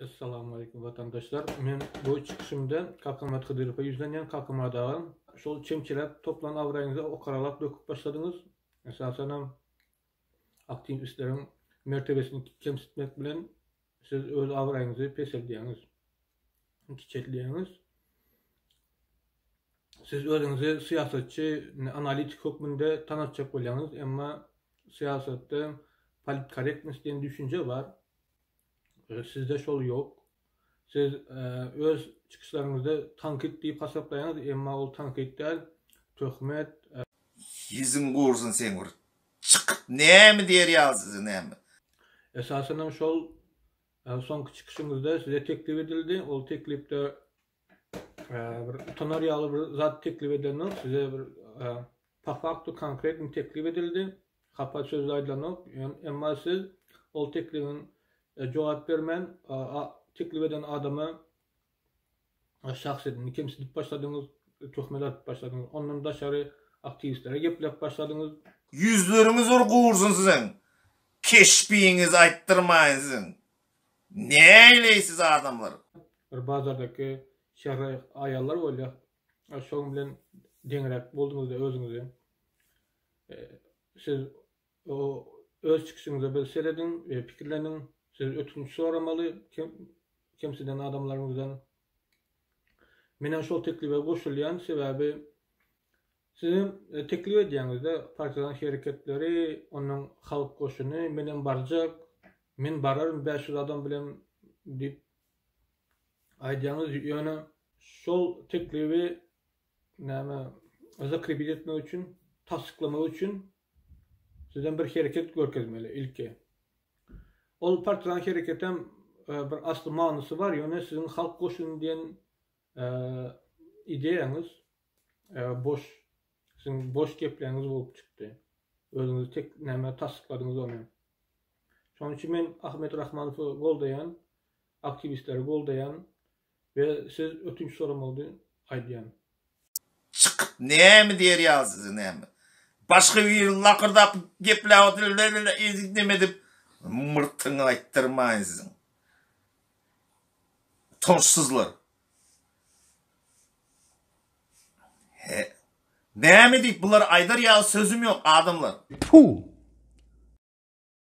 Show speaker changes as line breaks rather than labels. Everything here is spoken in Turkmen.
Assalamu aleykum watandaşlar. Men bu çykyşymda Kakamat Hydyrowa ýüzlenýän Kakamat agam. Şol çemçiräp toplan abraýyňyzy okaralap döküp başladyňyz. Esasan hem aktiwistleriň mertebesini kemsitmek bilen siz öz abraýyňyzy peseldýäňiz. kiçeltýäňiz. Siz özüňizi syýasatçy, analitik hökmünde tanatjak bolýaňyz, emma syýasatda politkorektnost diýen düşünje bar. Sizde şol ýok. Siz öz çykyşlaryňyzda tankyt diýip hasaplaýaňyz, emma ol tankyt däl, töhmet.
Ýüzüň gursyn seň bir çykyp näme diýer ýazyjy näme. Esasanam
şol Ýa soňky çykyşyňyzda size teklip edildi, ol teklipde bir utanar ýaly bir zat teklip edilenok, size bir po faktu konkretny teklip edildi, hapa söz aýdylanok, emma siz ol teklibiň jogap bermän, teklip eden adama. şahs edindi, kemsidip başladyňyz, töhmet atyp başladyňyz, ondan daşary aktiwistlere gepläp başladyňyz. Ýüzleriňiz
bir gursyn siziň, keşbiňizi aýtdyrmaýyn siziň. Näleýsiz adamlar? Bir bazardaky
şäher aýallar bolýa, şoň bilen deňräk bolduňyzda özüňizi. Siz O öz çykyşyňyza bir serediň we pikirleniň. Siz ötünç soramaly kemsiden adamlaryňyzdan. Menem şol teklibe goşulýan sebäbi sizem teklip edýäňizde partizan hereketleri ondan halk goşuny menem barjak men bararyn bäş ýüz adam bilen diýip aýdýaňyz ýöne şol teklibi näme zakrebit etmek üçin tassyklamak üçin Sizem bir hereket görkezmeli ilki. Ol partiýaň hereketem bir asly manysy bar, ýöne siziň halk goşuny diýen ideýaňyz boş, siziň boş gepleňiz bolup çykdy. Özüňiz tek näme tassykladyňyz ony. Şonuň üçin men Ahmet Rahmanowy goldaýan, aktiwistleri goldaýan, Ve siz ötünç soramagdy aýdýan.
Çykyp näme diýer ýaly size näme. Başga biriň lakyrdap gepläp otyr ezik neme dip myrtyňy aýtdyrmaýyn siziň. Utançsyzlar. He. Näme diýip
bulary
aýdar ýaly sözüm ýok adamlar. Puh.